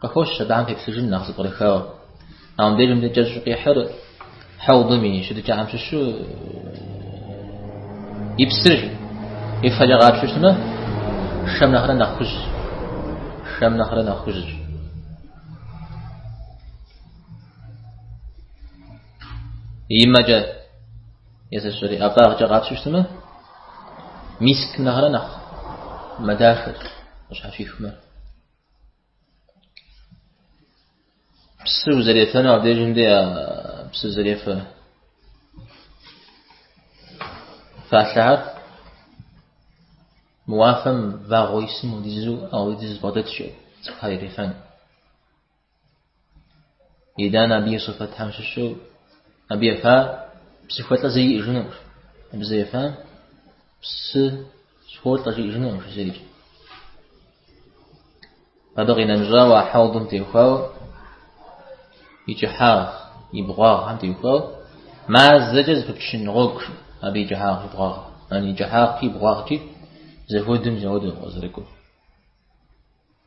Къыхощ Щэбан къипсыжым нэхъ зэпкърыхауэ. А мыбдежым дэ кӏэщӏу къихьыр хьэудым и щытыкӏэхэм щыщу и псыр и фэкӏэ къапщыщтмэ, шэм нэхърэ нэхъ хужь. Шэм нэхърэ нэхъ хужьщ. И мэкӏэ езыщӏри ӏэфӏагъкӏэ къапщыщтмэ, мискм нэхърэ нэхъ мэ дахэр къыщхьэщихмэ. Псы узэрефэну абдежым дей псы зэрефэ фалъэхэр мо уафэм вагъуэ исым хуэдизу ауэ хуэдиз бгъэдэтщ цӏыхухэр ирефэну. Итӏанэ абы и сыфэтхэм щыщу абы ефа псыхуэлӏэ зэи иӏыжынукъым. Абы зэ ефа псы сыхуолӏэ жиӏыжынукъым зэрикӏ. Абы къинэмыщӏауэ а хьэудым теухуауэ и кӏыхьагъ, и бгъуагъхэм теухуауэ мазэкӏэ зэпыпчын гъуэгу абы и кӏыхьагъ, и бгъуагъ, и кӏыхьагъкӏи, и бгъуагъкӏи зэхуэдым зэхуэдэу къызэрыкӏур.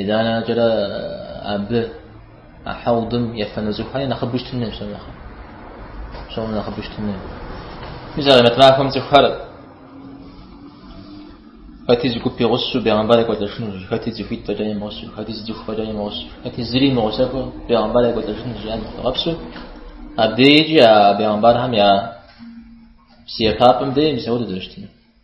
Итӏанэкӏэрэ абы а хьэудым ефэну цӏыхухэр нэхъыбэу щытын хуей псом нэхъыбэу. Псом нэхъыбэу щытын хуей. Мис а мэтӏмахэм цӏыхухэр хэти зы гуп игъусэу бегъэмбар екӏуэлӏэжынущ, хэти цӏыхуитӏ фӏэкӏа имыгъусэу, хэти зы цӏыху фӏэкӏа имыгъусэу, хэти зыри имыгъусэххэу бегъэмбар екӏуэлӏэжынущ жиӏэм зыхуигъэпсу. Абдеикӏи а бегъэмбархэм я псы ефапӏэм дей мис ауэ дызэрыщытыну.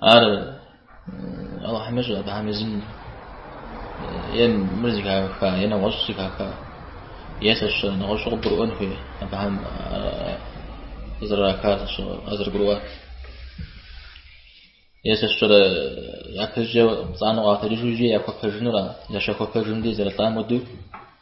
Ар Алыхьым ещӏэ, абыхэм езым е мыр зыхаха, е нэгъуэщӏ зыхаха, е лъэщ нэгъуэщӏу къыбгурыӏуэн хуей, абыхэм къызэрыраха къызэрыгурыӏуар. Е лъэщкӏэрэ япэкӏэ пцӏанэу къагъэтэджыжу икӏи яхуэпэжынура, щахуэпэжым дей зэрылӏам хуэдэу.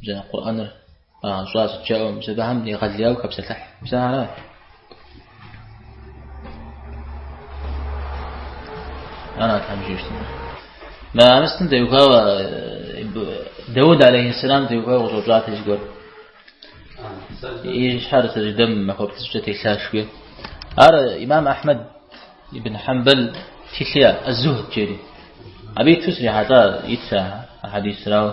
Бзэ Къурӏэныр къагъэщӏа сыт жаӏэу мис абыхэм егъэлеяуэ хэпсэлъыхь. Бзэ аращ. Ара тхьэм жиӏэмэ. Мо мыстым теухуауэ Дауд алейхиссалам теухуауэ къыщӏэупщӏат и зыгуэр. И щхьэр сэждэм махуэ плӏыщӏкӏэ телъаш хуей. Ар имам Ахьмэд ибн Хьэмбэл тхылъ иӏэ, Аз-Зухд жери. Абы иту срихьэлӏа итщ а хьэдисыр ауэ.